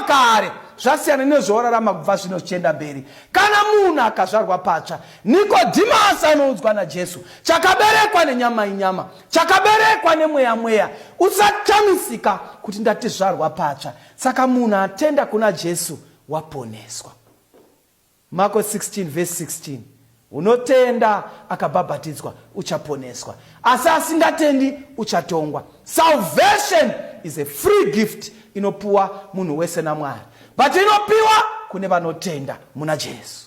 makare zvasiyana nezvaorarama kubva zvino zvichienda mberi kana munhu akazvarwa patsva nikodhimasi anoudzwa najesu chakaberekwa nenyama inyama chakaberekwa nemweya mweya usachamisika kuti ndatizvarwa patsva saka munhu atenda kuna jesu waponeswa Mako 16 vhesi 16 Unotenda akabhabhatidzwa uchaponeswa asi asingatendi uchatongwa. Salvation is a free gift inopiwa munhu wese naMwari but inopiwa kune vanotenda muna Jesu.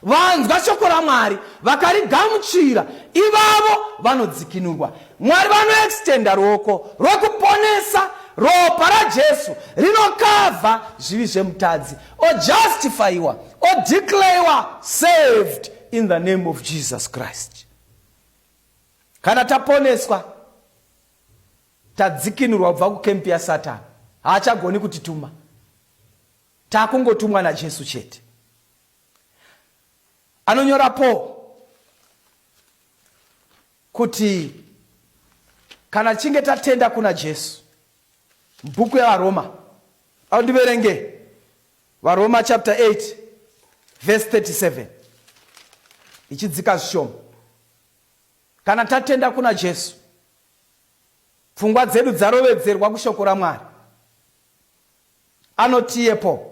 Vanzwa shoko raMwari vakarigamuchira, ivavo vanodzikinurwa. Mwari vanoextenda ruoko rwekuponesa. Ropa raJesu rinokavha zvivi zvemutadzi, ojustifyiwa, odeclarewa saved in the name of Jesus Christ. Kana taponeswa, tadzikinurwa kubva kukempi yaSatani, haachagoni kutituma. Takungotumwa naJesu chete. Anonyora Paul kuti kana tichinge tatenda kuna Jesu mubhuku yavaroma au ndiverenge varoma chapter 8 verse 37 ichidzika zvishoma kana tatenda kuna jesu pfungwa dzedu dzarovedzerwa kushoko ramwari Anotiyepo.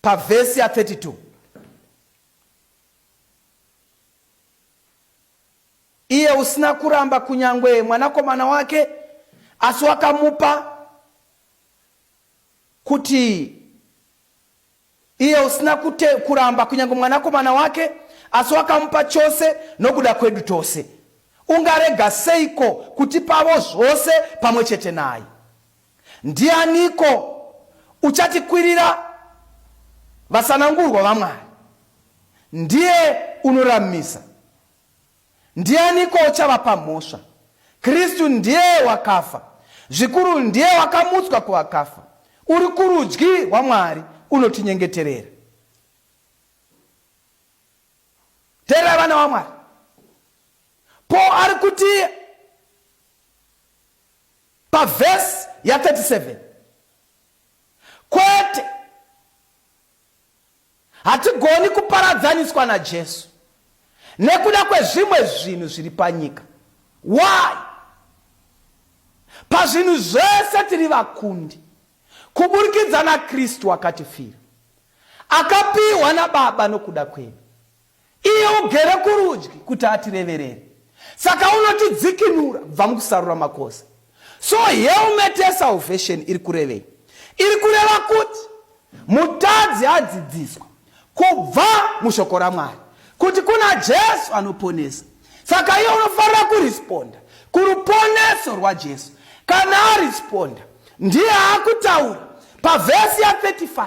Pavhesi ya 32. Iye usina kuramba kunyangwe mwanakomana wake asi wakamupa kuti Iye usina kute, kuramba kunyange mwanakomana wake, asi wakamupa chose nokuda kwedu tose, ungarega seiko kutipavo zvose pamwe chete naye? Ndianiko uchatikwirira vasanangurwa vaMwari? Ndiye unoramisa. Ndianiko uchavapa mhosva? Kristu ndiye wakafa, zvikuru ndiye wakamutswa kuvakafa, uri kurudyi rwaMwari, unotinyengeterera. Teerera vana vaMwari. Paul ari kuti pavhesi ya 37 kwete Hatigoni kuparadzaniswa naJesu nekuda kwezvimwe zvinhu zviri panyika. Why? Pazvinhu zvese tiri vakundi kuburikidza naKristu akatifira, akapiwa naBaba nokuda kwedu. Iye ugere kurudyi kuti atireverere. Saka unotidzikinura kubva mukusarura makosa. So helmet yesalvation iri kurevei? Iri kureva kuti mutadzi adzidziswa kubva mushoko raMwari kuti kuna Jesu anoponesa. Saka iye unofanira kuresponda kuruponeso rwaJesu. Kana aresponda, ndiye akutaura pavhesi ya 35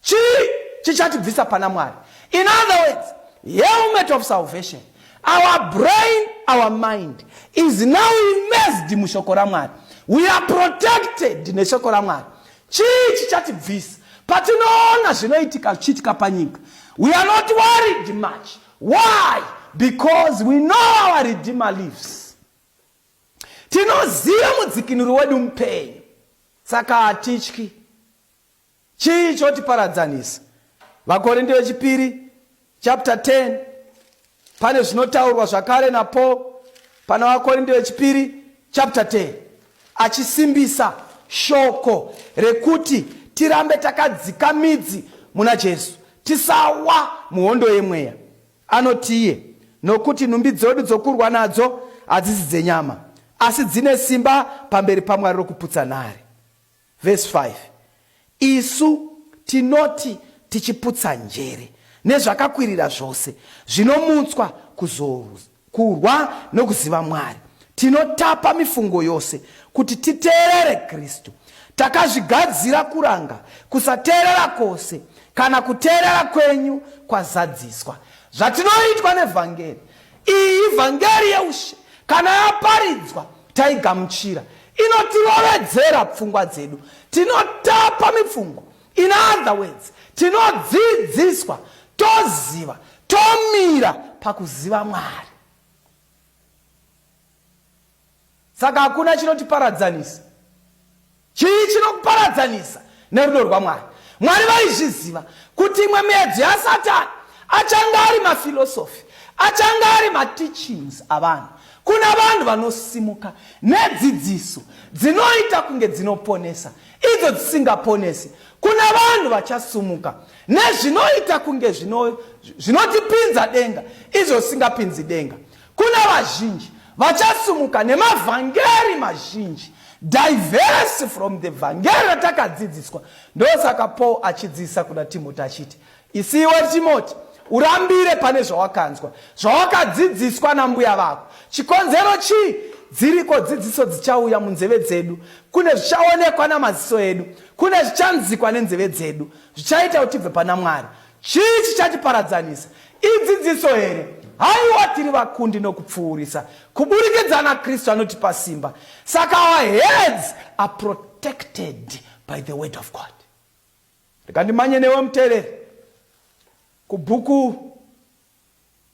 Chii chichatibvisa pana Mwari? In other words, helmet of salvation. Our brain, our mind is now immersed mushoko raMwari. We are protected neshoko raMwari. Chii chichatibvisa? Patinoona zvinoitika zvichiitika panyika. We are not worried much. Why? Because we know our Redeemer lives. Tinoziva mudzikinuri wedu mupenyu. Saka hatityi. Chii chotiparadzanisa? Vakorinde Vechipiri chapter 10 pane zvinotaurwa zvakare naPaul pana Vakorinde Vechipiri chapter 10 achisimbisa shoko rekuti tirambe takadzika midzi muna Jesu tisawa muhondo yemweya. Anoti iye, nokuti nhumbi dzedu dzokurwa nadzo hadzisi dzenyama, asi dzine simba pamberi paMwari rokuputsa nhare. Verse 5 Isu tinoti tichiputsa njere nezvakakwirira zvose zvinomutswa kuzorwa nokuziva Mwari, tinotapa mifungo yose kuti titeerere Kristu. Takazvigadzira kuranga kusateerera kwose kana kuteerera kwenyu kwazadziswa. Zvatinoitwa nevhangeri Iyi vhangeri yeushe kana yaparidzwa taigamuchira, inotirovedzera pfungwa dzedu, tinotapa mifungo. In other words, tinodzidziswa, toziva, tomira pakuziva Mwari. Saka hakuna chinotiparadzanisa. Chii chinokuparadzanisa nerudo rwaMwari? Mwari vaizviziva kuti imwe miedzo yaSatani achanga ari mafilosofi, achanga ari mateachings avanhu kuna vanhu vanosimuka nedzidziso dzinoita kunge dzinoponesa idzo dzisingaponesi kuna vanhu vachasumuka nezvinoita kunge zvinotipinza denga izvo zvisingapinzi denga Kuna vazhinji vachasimuka nemavhangeri mazhinji diverse from the vhangeri ratakadzidziswa ndosaka paul achidzidzisa kuna timoti achiti isiwe timoti urambire pane zvawakanzwa zvawakadzidziswa nambuya vako chikonzero chii dziriko dzidziso dzichauya munzeve dzedu kune zvichaonekwa namaziso edu kune zvichanzikwa nenzeve dzedu zvichaita kuti tibve pana mwari Chii chichatiparadzanisa? Idzidziso here? Haiwa, tiri vakundi nokupfuurisa kuburikidza naKristu anotipa simba. Saka our heads are protected by the word of God. Rega ndimanye newe muteereri kubhuku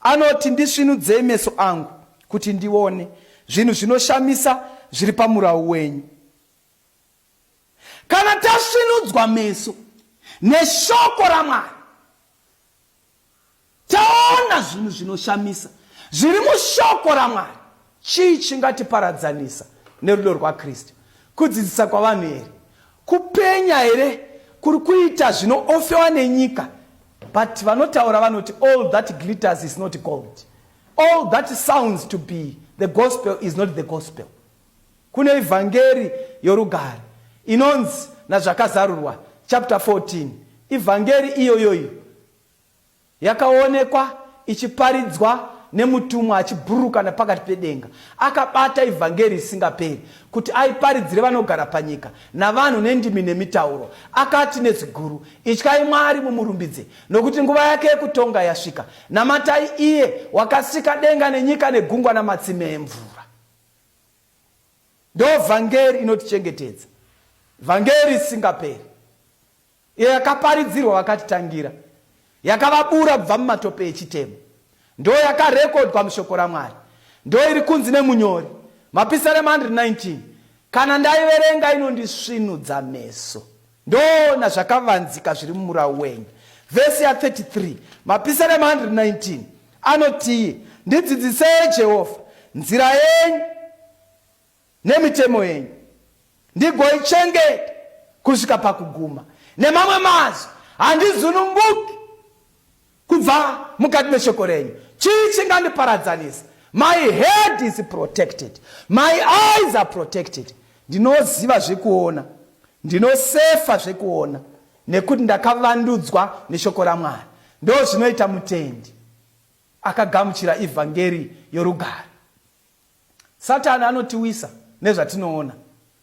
Anoti, Ndisvinudzei meso angu kuti ndione zvinhu zvinoshamisa zviri pamurau wenyu. Kana tasvinudzwa meso neshoko raMwari, taona zvinhu zvinoshamisa zviri mushoko raMwari, Chii chingatiparadzanisa nerudo rwaKristu? Kudzidzisa kwavanhu here? Kupenya here kuri kuita zvinoofewa nenyika? But vanotaura vanoti all that glitters is not gold. All that sounds to be the gospel is not the gospel. Kune evhangeri yorugare inonzi naZvakazarurwa chapter 14 ivhangeri iyoyoyo Yakaonekwa ichiparidzwa nemutumwa achiburuka napakati pedenga, akabata ivhangeri isingaperi, kuti aiparidzire vanogara panyika, navanhu nendimi nemitauro. Akati nezwi guru, Ityai Mwari mumurumbidze, nokuti nguva yake yekutonga yasvika. Namatai iye wakasika denga nenyika negungwa namatsime emvura. Ndovhangeri inotichengetedza, vhangeri isingaperi. iyo yakaparidzirwa vakatitangira, yakavabura kubva mumatope echitema, ndoo yakarekodwa muShoko raMwari, ndoo iri kunzi nemunyori, Mapisarema 119, Kana ndaiverenga inondisvinudza meso, ndoona zvakavanzika zviri mumurau wenyu. Vhesi ya 33, Mapisarema 119, anotii, Ndidzidzisei, Jehovha, nzira yenyu, nemitemo yenyu ndigoichengeta kusvika pakuguma. Nemamwe mazwi, handizununguki kubva mukati meshoko renyu. Chii chingandiparadzanisa? My head is protected. My eyes are protected. Ndinoziva zvekuona. Ndinosefa zvekuona nekuti ndakavandudzwa neshoko raMwari. Ndo zvinoita mutendi akagamuchira ivhangeri yorugare. Satani anotiwisa nezvatinoona,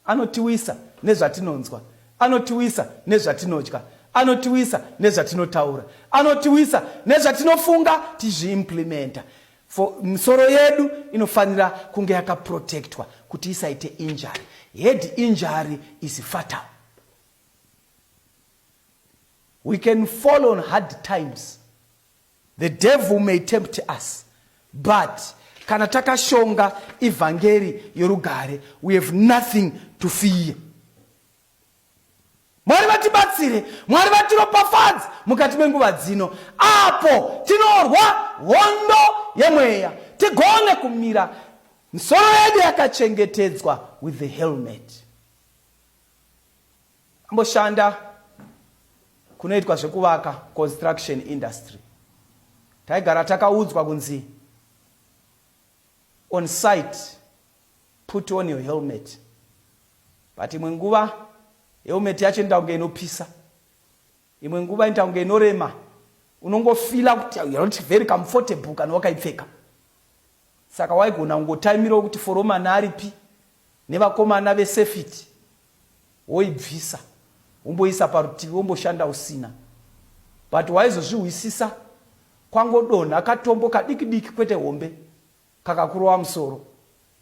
anotiwisa nezvatinonzwa, anotiwisa nezvatinodya, anotiwisa nezvatinotaura, anotiwisa nezvatinofunga tizviimplimenta. For misoro yedu inofanira kunge yakaprotectwa kuti isaite injury. Head injury is fatal. We can fall on hard times. The devil may tempt us but kana takashonga evhangeri yorugare we have nothing to fear. Mwari vatibatsire, Mwari vatiropafadze mukati menguva dzino apo tinorwa hondo yemweya tigone kumira misoro yedu yakachengetedzwa with the helmet. Amboshanda kunoitwa zvekuvaka construction industry. Taigara takaudzwa kunzi on site put on your helmet. But imwe nguva helmet yacho inoda kunge inopisa. Imwe nguva inoita kunge inorema. Unongofila kuti you're not very comfortable kana wakaipfeka. Saka waigona kungotaimirawo kuti foromana aripi nevakomana vesefiti woibvisa womboisa parutivi womboshanda usina but waizozvihwisisa kwangodonha katombo kadikidiki kwete hombe Pakakurova musoro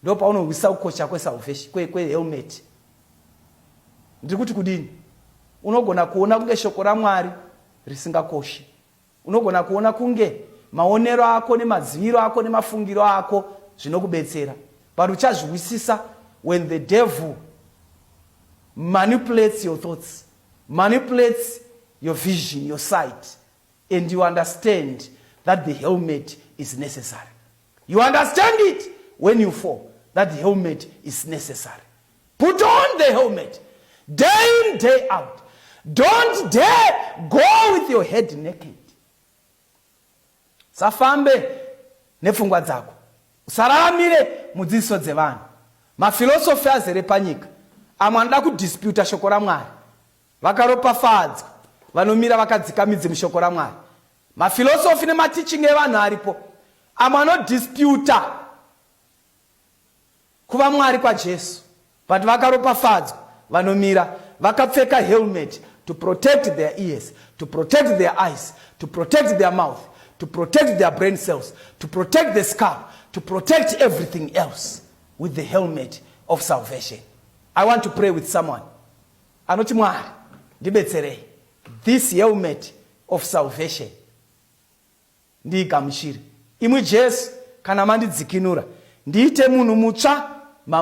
ndopaunohwisa kukocha kwesalvation kwe, kwe helmet. Ndiri kuti kudini? Unogona kuona kunge shoko raMwari risingakoshi. Unogona kuona kunge maonero ako nemadziviro ako nemafungiro ako zvinokubetsera, but uchazvihwisisa when the devil manipulates your thoughts, manipulates your vision, your sight and you understand that the helmet is necessary you understand it when you fall that the helmet is necessary put on the helmet day in day out don't dare go with your head naked safambe nepfungwa dzako usararamire mudzidziso dzevanhu mafilosofi azere panyika amwe anoda kudisputa shoko ramwari Vakaropafadzwa vanomira vakadzika midzi mushoko raMwari. Mafilosofi nemateaching evanhu aripo amwe anodisputa kuva Mwari kwaJesu but vakaropafadzwa vanomira vakapfeka helmet to protect their ears, to protect their eyes, to protect their mouth, to protect their brain cells, to protect the scalp, to protect everything else with the helmet of salvation. I want to pray with someone. Anoti, Mwari, ndibetserei, this helmet of salvation ndiigamuchire. Imwi Jesu, kana mandidzikinura, ndiite munhu mutsva.